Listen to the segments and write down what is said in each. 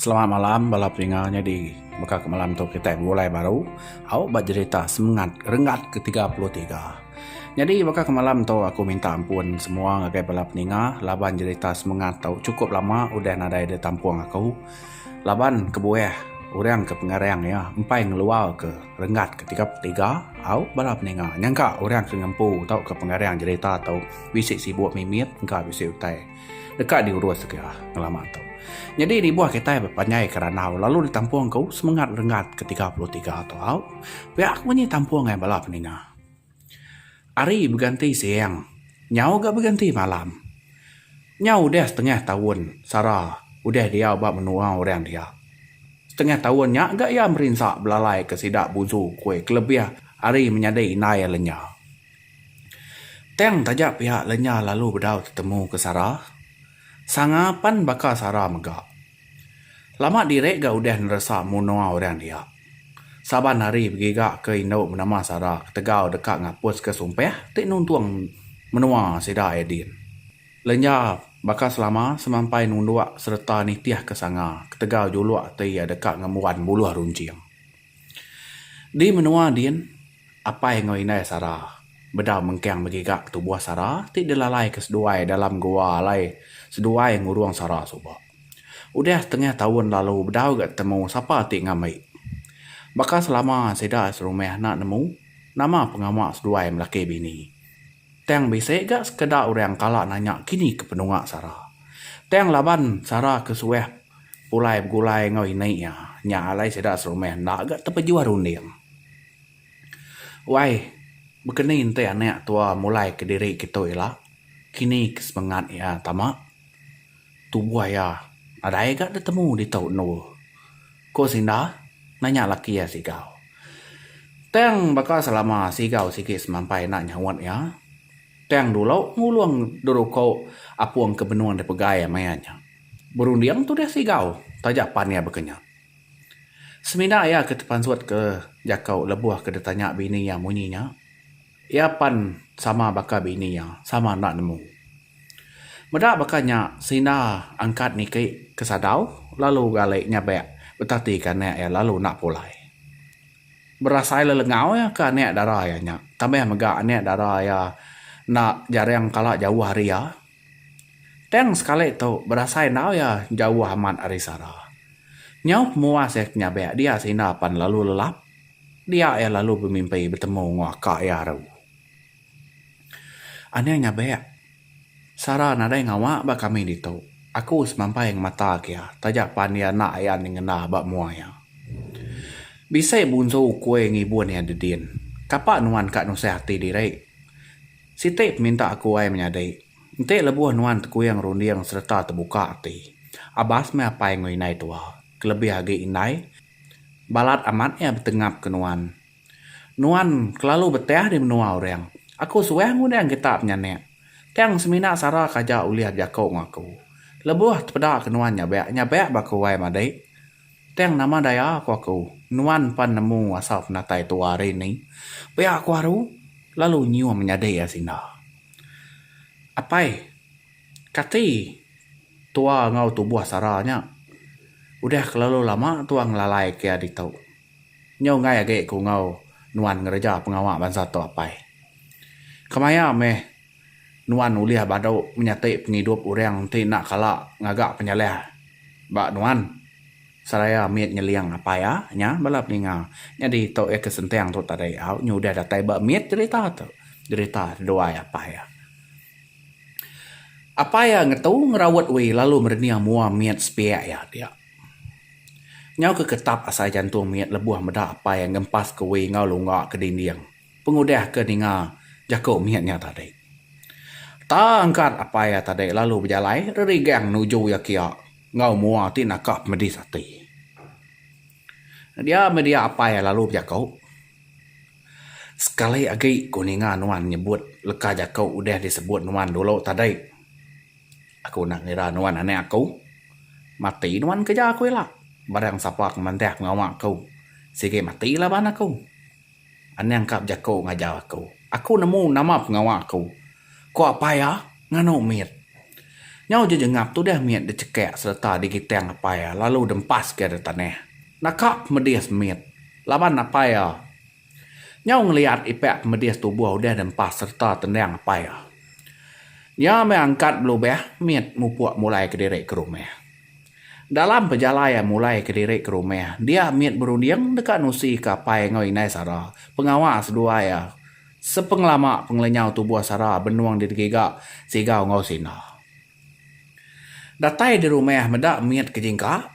Selamat malam bala pendengar nyadi baka ke malam tu kitai begulai baru au ba jerita semengat renggat ke tiga puluh tiga. Nyadi baka ke malam tu aku minta ampun semua ngagai bala pendengar laban jerita semengat tu chukup lama udah nadai da tampung aku laban kebuah orang ke pengarang iya empai ngeluar ke renggat ke tiga puluh tiga au bala pendengar nyangka orang ke ngempu tauka pengarang jerita tu bisi sibuk mimit engka bisi utai. Deka diurus ke ngelama tu. Nyadi ribuh kitai bepanjai ke randau lalu ditampung ku semengat renggat ke tiga puluh tiga tu au. Pia ku munyi tampung ai bala peninga. Hari beganti siang, nyau ga beganti malam. Nyau udah setengah taun Sara udah diau ba menua orang dia. Setengah taun nya ga iya merinsa belalai ke sida buzu ku kelebih ari menyadi indai iya lenya. Tang taja pia lenya lalu bedau tetemu ke Sara. Sanga pan baka Sara mega. Lama diri ga udah neresa munoa orang dia. Saban hari begiga ke indu menama Sara ketegal deka ngapus ke sumpah ti nuntung menoa sida Edin. Lenya baka selama semampai nundok sereta nitih ke sanga ketegal julok ti iya deka ngembuan buluh runcing. Di menua din, apai enggau indai sara bedau mengkang begiga tubuh sara ti dilalaika seduai dalam gua alai seduai ngurung sara suba. Udah setengah taun lalu bedau ga temu sapa ti ngambi. Baka selama sida serumah enda nemu nama pengawa seduai melaki bini. Tang bisi ga sekeda orang kala nanya kini ke penua sara. Tang laban sara ke suah Pulai begulai enggau ini iya. Nya alai sida serumah enda ga tepejuah runding. Wai, bekeni enti anak tua mulai kediri kitu ila, kini ke semengat iya tama. Tubuh iya nadai ga ditemu ditu endu, ku Sinda nanya laki iya Sigau. Tang baka selama Sigau sigi semampai enda nyaut iya, tang dulu ngulung deruko apung ke benung dipegai maya nya. Berunding tu deh sigau, taja pan iya baka nya. Semina iya ke tepansut ke jaku lebuh ke ditanya bini iya munyi nya, iya pan sama baka bini iya, sama enda nemu. Meda baka nya, Sinda angkat niki ke sadau lalu gali nyabek betatika anak iya lalu enda pulai. Berasai lelengau iya ke anak dara iya nya tambah mega anak dara iya enda jaring kala jauh ari iya. Tang sekali tu berasai enggau iya jauh amat ari Sara. Nyau pemuas iya ke nyabek dia seinda pan lalu lelap, dia iya lalu bemimpi betemu enggau aka iya eru. Aning nyabek, Sara nadai ngawa ba kami ditu. Aku semampai ngemata ke iya taja pan iya enda ayan nyengenda ba mua iya. Bisi bunsu ukui ngibun iya dedin. Kapa nuan ka nusah ati diri? Siti peminta aku ai menyadi. Enti lebuh nuan tekuing runding sereta tebuka ati. Abas meh apai enggau indai tua, kelebih agi indai, balat amat iya betengap ke nuan. Nuan kelalu beteh di menua orang. Aku suah ngundang kita penyanik. Tang semina sara ke aja ulih bejaku enggau aku. Lebuh tepeda ke nuan nyabak, nyabak ba aku ai madik. Tang nama daya ku aku, nuan pan nemu asal penatai tua hari ni. Pia aku aru lalu nyium menyadi iya sinda. Apai, kati tua enggau tubuh sara nya udah kelalu lama tua ngelalai ke iya ditu. Nyu enggai agi ku enggau nuan ngereja pengawa bansa tu apai. Kemaya meh. Nuan ulih badu menyati pengidup orang enti enda kala ngaga penyalih ba nuan seraya mit nyeling apai iya nya bala peninga. Nyadi tu iya ke senting tu tadi au nyu udah datai ba mit jerita tu, jerita duai apai iya. Apai iya ngetu ngeraut wee lalu merening mua mit sepiak iya dia. Nyau ke ketap asai jantung mit lebuh meda apai iya ngempas ke wee enggau lunga ke dinding. Pengudah ke ninga jaku mit nya tadi. Tang kad apai iya tadi lalu bejalai rerigang nuju iya kia enggau mua ti naka pemedis ati. Dia meh dia apai iya lalu bejaku, Sekali agi ku ninga nuan nyebut leka jaku udah disebut nuan dulu tadi, aku enda ngira nuan anak aku. Mati nuan kereja aku ila. Barang sapa ke mandah pengawa aku sigi mati laban aku. Anang ka bejako ngajar aku. Aku nemu nama pengawa aku. Ko apai iya nganu mit. Nyau je jengap tudah mit dicekak sereta digitang apai iya lalu dempas ke ari tanah. Naka pemedis mit laban apai iya nyau ngeliat ipak pemedis tubuh udah dempas sereta tendang apai iya. Iya meh angkat belubah mit mupuk mulai kediri ke rumah. Dalam pejalai iya mulai kediri ke rumah, dia mit berunding deka nusi ke apai enggau indai Sara. Pengawa seduai iya, sepengelama pengelenyau tubuh Sara benung didegiga Sigau enggau Sina. Datai di rumah meda mit ke jingka,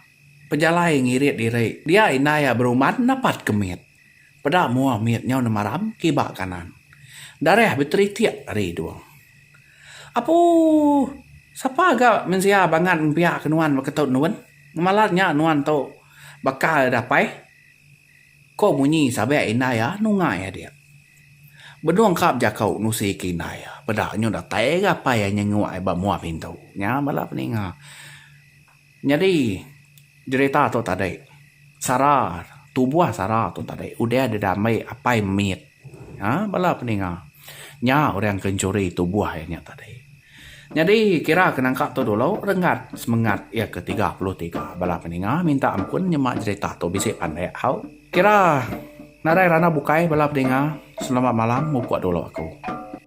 pejalai ngirit diri. Dia indai iya beruman napatka mit. Peda mua mit nyau nemaram kiba kanan. Darah beteritik ari hidung. Apuuh! Sapa ga mensia bangat ngempiak ke nuan baka tu Nun? Ngemalat nya nuan tu bakal ida apai? Ko munyi sabek indai iya nungai adik. Benung kap jaku nusi ke indai iya. Peda nyu datai ga apai iya nyenguk iya ba mua pintu. Nya bala peninga. Nyadi jerita tu tadi sara tubuh sara tu tadi udah di diambi apai mit aaa bala peninga nya orang ke enchuri tubuh iya nya tadi. Nyadi kira ke nangka tu dulu renggat semengat iya ke tiga puluh tiga bala peninga minta ampun nyema jerita tu bisi pandai au. Kira nadai randau bukai bala peninga selamat malam mupok dulu aku.